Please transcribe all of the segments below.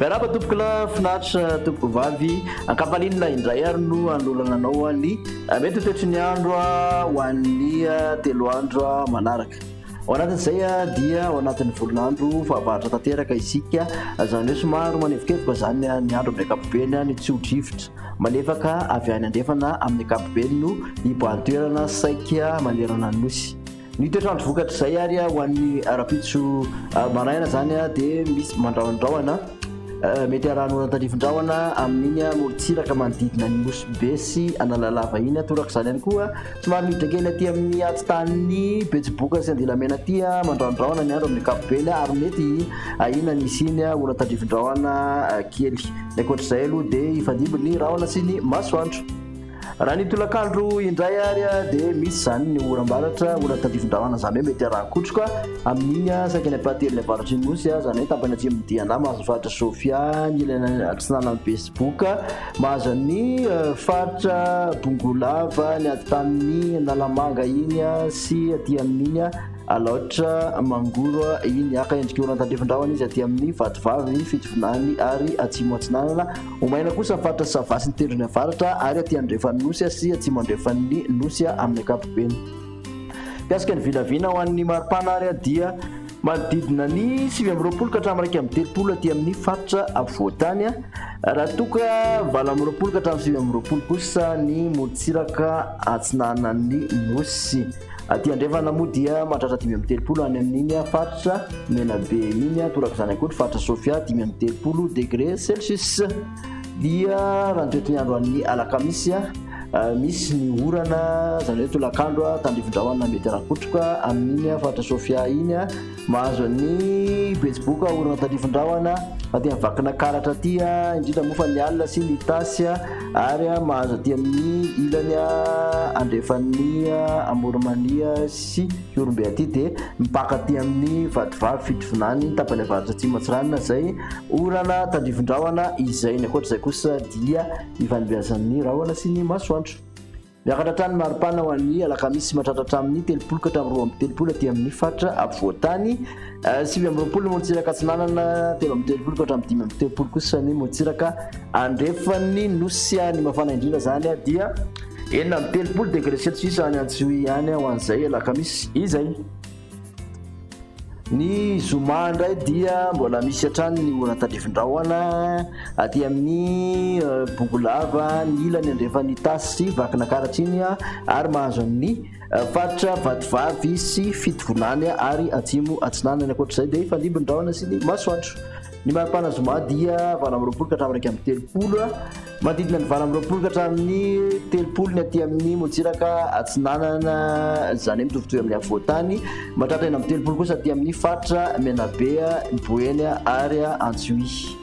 Miarahaba tompoko lahy, finaritra tompoko vavy. Ankapalinina indray ary no anolorana anao ny mety ho toetry ny andro ho an'ny telo andro manaraka. Ao anatin'izay dia ao anatin'ny volon'andro fahavaratra tanteraka isika, izany hoe somary manevokevoka izany ny andro amin'ny ankapobeny, ny tsio-drivotra malefaka avy any andrefana amin'ny ankapobeny no hibahan toerana saika manerana ny nosy. Ny toetr'andro vokatr'izay ary ho an'ny rahampitso maraina izany dia misy mandrahondrahona, mety harahan'ny orana tandrifin-drahona amin'iny morontsiraka manodidina ny Nosy Be sy Analalava iny, torak'izany ihany koa. Somary midrakena aty amin'ny atsitan'ny betsiboka sy andilamena aty aman-dRaondraona ny andro amin'ny ankapobeny ary mety ahiana ny hisiany orana tandrifindraona kely. Ny ankoatr'izay aloha dia hifandimby ny rahona sy ny masoandro. Raha ny tolakandro indray ary dia misy izany ny oram-baratra, orana tandrifindraona izany hoe mety haraha-kotroka amin'iny saika ny ampahatelon'ny avaratry ny Nosy, izany hoe tapany atsimon'ny Diana, Mahazofaritry Sofia, ny ilany atsinanan'ny betsiboka. Mahaza ny faritra Bongolava, ny atintanin'i Analamanga iny sy aty amin'iny Alaotra Mangoro iny. Haka endrika orana tandrefin-drahona izy aty amin'ny Vatovavy, Fitovinany ary Atsimo Atsinanana. Ho maina kosa ny faritra Sava sy ny Tendrony Avaratra ary aty andrefan'ny Nosy sy atsimo andrefan'ny Nosy amin'ny ankapobeny. Mikasika ny vinavina ho an'ny maripana ary dia manodidina ny sivy amby roapolo ka hatramin'ny iraika amby telopolo aty amin'ny faritra afovoan-tany, raha toa ka valo amby roapolo ka hatramin'ny sivy amby roapolo kosa ny morontsiraka atsinanan'ny Nosy. Aty andrefana moa dia mahatratra dimy amby telopolo any amin'iny faritra Menabe iny, torak'izany ihany koa ny faritra Sofia dimy amby telopolo degré Celsius. dia raha ny toetr'andro an'ny alakamisy misy ny orana izany hoe tolakandro tandrivindrahona mety rakotroka amin'iny faritra sofia iny mahazo an'ny betsiboka orana tandrivindrahona aty amin'ny vakina karatra aty indrindra moa fa ny alina sy ny tasy ary mahazo aty amin'ny ilany andrefan'ny amorimania sy Ihorombe aty dia mipaka aty amin'ny vadivavy Fitovinany tapany avaratra atsimo Antsiranana izay orana tandrivon-drahona izay ny ankoatra izay kosa dia ivanimbiazan'ny rahona sy ny masoandro miakatra hatrany maripana ho an'ny alakamisy mahatratra hatramin'ny telopolo ka hatramin'ny roa amby telopolo aty amin'ny faritra afovoan-tany Sivy amby roapolo ny Motsiraka Atsinanana, telo amby telopolo ka hatramin'ny dimy amby telopolo kosa ny Motsiraka Andrefan'ny Nosy. Ny mafana indrindra izany dia enina amby telopolo degré celsius any Antsiohihy any ho an'izay alakamisy izay. Ny zoma indray dia mbola misy hatrany ny orana tandrifin-drahona aty amin'ny euh, Bongolava, ny ilany andrefan'ny Itasy sy Vakinankaratra iny ary mahazo an'ny Faritra Vatovavy sy Fitovinany ary Atsimo Atsinanana. Ankoatra izay dia hifandimby ny rahona sy ny masoandro. Ny mari-pana zoma dia valo amby roapolo ka hatramin'ny iraika amby telopolo, manodidina ny valo amby roapolo ka hatramin'ny telopolo ny aty amin'ny motsiraka atsinanana, izany hoe mitovitovy amin'ny afovoan-tany, mahatratra enina amby telopolo kosa aty amin'ny faritra Menabe, Boeny ary Antsiohihy.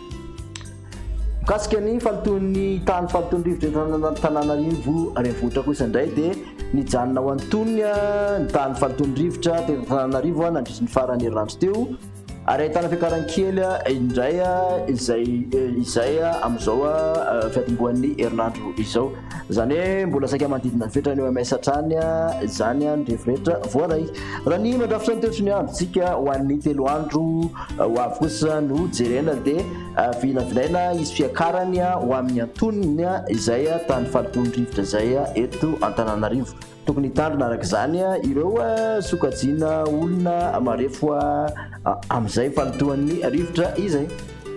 Mikasika ny fahalotoan'ny tany fahalotoan'ny rivotra eto Antananarivo renivohitra kosa indray dia nijanona ho antonony ny tany fahalotoan'ny rivotra teto Antananarivo nandritra ny faran'ny herinandro teo ary ahitana fiakarany kely indray izay izay amin'izao fiatombohan'ny herinandro izao izany hoe mbola saika manodidina ny fetrany OMS hatrany izany ny rivo rehetra voaray raha ny mandrafitra ny toetry ny androntsika ho an'ny telo andro ho avy kosa no jerena dia Vinavinaina hisy fiakarany ho amin'ny antonony izay tamin'ny fahalotoan'ny rivotra izay eto Antananarivo. Tokony hitandrina araka izany ireo sokajiana olona marefo amin'izay fahalotoan'ny rivotra izay.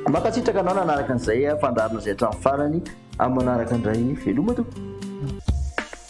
Mankasitraka anao nanaraka an'izay fandaharana izay hatramin'ny farany, amin'ny manaraka indray veloma tompoko.